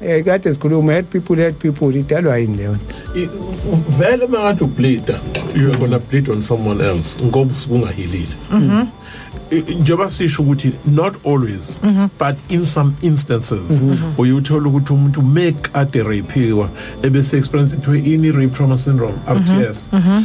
Eh kade sikhuluma help people help people idalwa yini leyo vele makathi ubleeda you are gonna bleed on someone else ngoba usukungahilile mhm njengoba sisho ukuthi not always mm -hmm. but in some instances mm -hmm. uyuthola ukuthi umuntu make ade rapiwa ebese experience kuthiwe ini rape trauma syndrome RTS mm -hmm.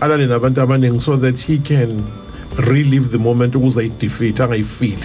alale nabantu abaningi so that he can relive the moment ukuze ayidefeat angayifili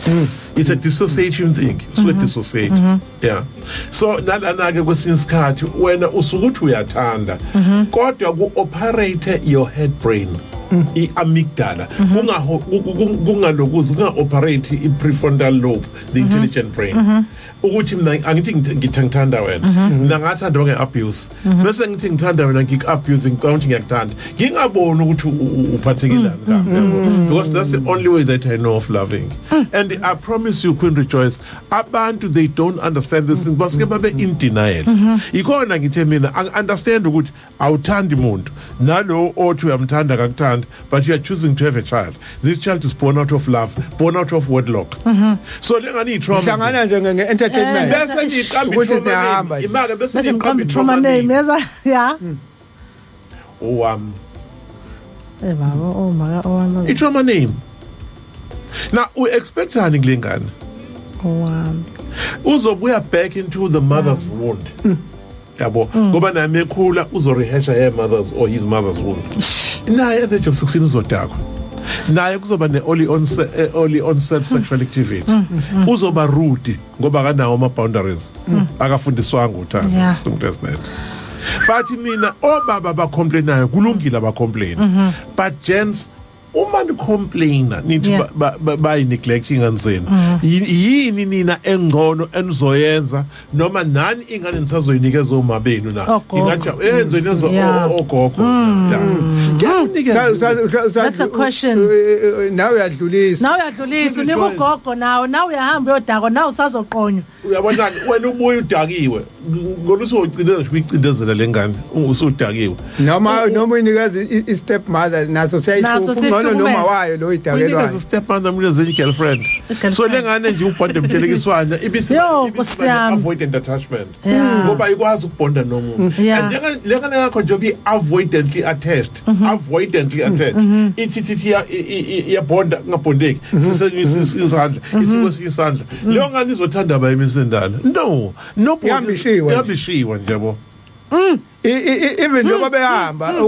hmm. it's a dissociation thing so mm -hmm. dissociate mm -hmm. yeah so nalana ke kwesinye isikhathi wena usukuthi uyathanda mm -hmm. kodwa ku operate your head brain mm. i-amygdala mm-hmm. kungalokuzi kunga-operate i-prefrontal lobe the mm-hmm. intelligent brain mm-hmm. ukuthi mina angithi ngithanda wena mhm. mina ngathanda onge abuse mhm. bese ngithi ngithanda wena ngik abuse ngicabanga ukuthi ngiyakuthanda ngingaboni ukuthi uphathekile mhm. ngami because that's the only way that i know of loving mm. and i promise you queen rejoice abantu they don't understand this thing basike babe in denial ikhona ngithe mina i understand ukuthi awuthandi muntu nalowo othi uyamthanda akakuthandi but you are choosing to have a child this child is born out of love born out of wedlock mm -hmm. so lengani itrauma hlangana nje nge entertainment eh, bese ngiqamba itrauma imake bese ngiqamba itrauma name yaza ya hmm. owam eh baba oh maka owam itrauma name na u expectani kulengane owam uzobuya back into the mother's mm. wound mm. yabo ngoba naye mekhula uzorehasha her mother's or his mother's wound naye at the age of 16 uzodakwa naye kuzoba ne-oli onse- eh, oli onset sexual activity uzoba rude ngoba akanawo ama-boundaries akafundiswanga uthando Yeah. izinto ezineto but nina obaba abacomplainayo kulungile abacomplaini but gents uma ni complainer nithi Yeah. ba- ba- bayi neglect ingane zenu Yi- yini nina engcono enizoyenza noma nani ingane nisazoyinikeza oma benu na Ogogo. ingathi eh nizoyineza Yeah. o- o- ogogo Yeah. Ngiyakunikeza. Usa- usa- usa- usa- That's a question. u- u- u- Nawe uyadlulisa. nawe uyadlulisa unika ugogo nawe nawe uyahamba uyodakwa nawe usazoqonywa uyabonani wena ubuye udakiwe ngona usogcina ngisho uyicindezela lengane usudakiwe noma noma inikazi i step mother naso siyayisukungcono noma wayo lo idakelwa inikazi step mother mina zenye girlfriend so lengane nje ubhonda mthelekiswana ibisi avoidant attachment ngoba ikwazi ukubhonda nomuntu and lengane yakho nje uyi avoidantly attached attached mm -hmm. avoidantly attached mm -hmm. ithi ithi iyabonda ngabondeki mhm. sisenyusisa isandla mhm. isiko sikisandla mhm. leyo ngani izothanda abayimesendala no no yambishiwe yambishiwe nje bo mm. even njengoba mm. behamba mm.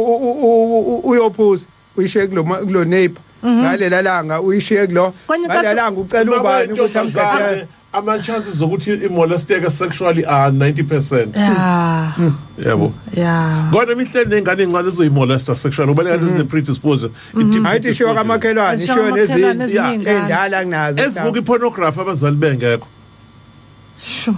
uyophuza uyishiye kulo kulo neighbor ngalela langa uyishiye kulo ngalela langa ucela ubani ukuthi amgade ama chances zokuthi imolesteke sexually are 90 percent yeah hmm. yebo yeah kodwa imihleli nengane encane izoyimolesta sexual ubale kanti zine hmm. predisposed hmm. hayi ishiwa kamakhelwane ishiwa nezinto endala kunazo ezibuka ipornography abazali bengekho sure